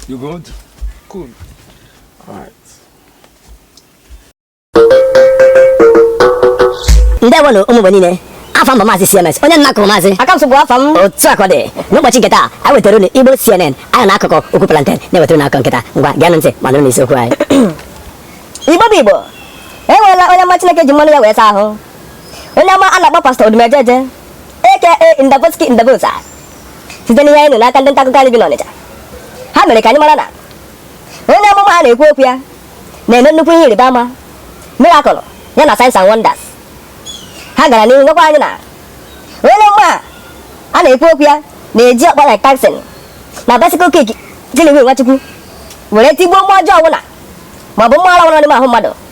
You good? Cool. Alright. ndewonụ ụmụ Igbo niile afa m bụ maazị CMS onye a na-akpọ maazị aka m sogbu afọ m otu a ka ọ dị n'ụbọchị nke taa anyị wetara unu Igbo CNN anyị na akụkọ okwu plantain na-ewetara unu akụkọ nke taa ngwa geenụ ntị ma nụrụ n'isiokwu anyị Igbo bụ Igbo enweela onye amụma Chineke ji mmanụ ya wee saa ahụ onye amụma a na-akpọ Pastor Odumejeje aka Ndaboski Ndabosa site n'ihe anyị nụ n'aka ndị nta akụkọ anyị bi n'Ọnịcha ha mere ka anyị mara na onye amụma a a na-ekwu okwu ya na-eme nnukwu ihe ịrịba ama miracle ya na signs and wonders ha gara n'ihu gwakwa anyị na onye amụma a a na-ekwu okwu ya na-eji ọkpa like Tyson na bicycle kick jiliwi Nwachukwu were tigbuo mmụọ ọjọọ ọbụla maọbụ mmụọ ara bara n'ime ahụ mmadụ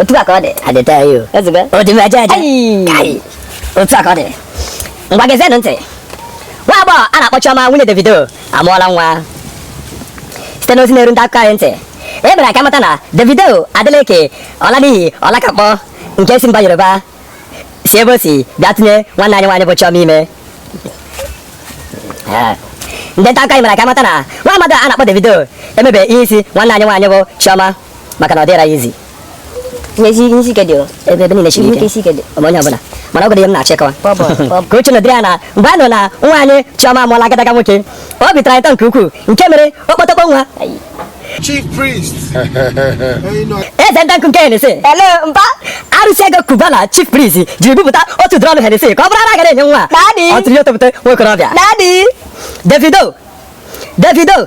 otu a ka ọ dị adịta ya o ezigbo Odumejeje Ai! Kai! otu a ka ọ dị ngwa gezienụ ntị nwa agbọghọ a na-akpọ Chioma nwunye Davido amụọla nwa site n'ozi na-eru ndị akụkọ anyị ntị e mere ka a mata na Davido Adeleke Ọlaniyi Ọlakakpọ nke si mba Yoruba si ebe o si bịa tụnye nwanne anyị nwaanyị bụ Chioma ime Ee. ndị nta akụkọ anyị mere ka a mata na nwa amadi a na-akpọ Davido emebe ihe isi nwanne anyị nwaanyị bụ Chioma maka na ọ dịrọ ya easy ihe isi ihe isi ike dị o ebe ebe niile siri ihe ike ike isi ike dị ma onye ọbụla mana ọ bụghị ihe m na-achọ ịkọwa Bọbọ, bọbọ. ka uche nọdịrị ya na mgbe a nụrụ na nwa anyị Chioma amụọla agadaga nwoke obi tọrọ anyị ụtọ nke ukwuu nke mere okpotokpo nwa Chief priest. eze ndị nkụ nke Hennessy ele mba arụsị ego Cubana Chief Priest jiri bupụta otu drum Hennessy ka ọ bụrụ ara a gara enye nwa Daddy. ọ tụrụ ya otopụta nwokorobịa daddy Davido Davido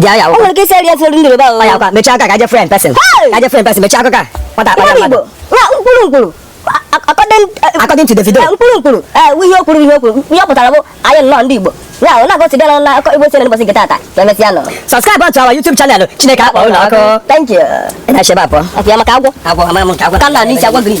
ji aya o nwere ike isi arịa sori ndị Yoruba o aya kwa mechie aka ka je friend person ka je friend person mechie aka ka nwata akpa ya mmadụ mkpụrụ mkpụrụ according to Davido mkpụrụ mkpụrụ ihe o kwuru ihe o kwuru ihe ọ pụtara bụ anyị nnọọ ndị Igbo ya ọ na-agọsi bịara na akụkọ Igbo CNN ụbọchị nke taata ka emesịanụ subscribe to our YouTube channel Chineke akpọ ụlọ ọkụ thank you na-echebe apụ apụ ya maka agwọ agwọ ama m nke agwọ ka m na-anụ isi agwọ green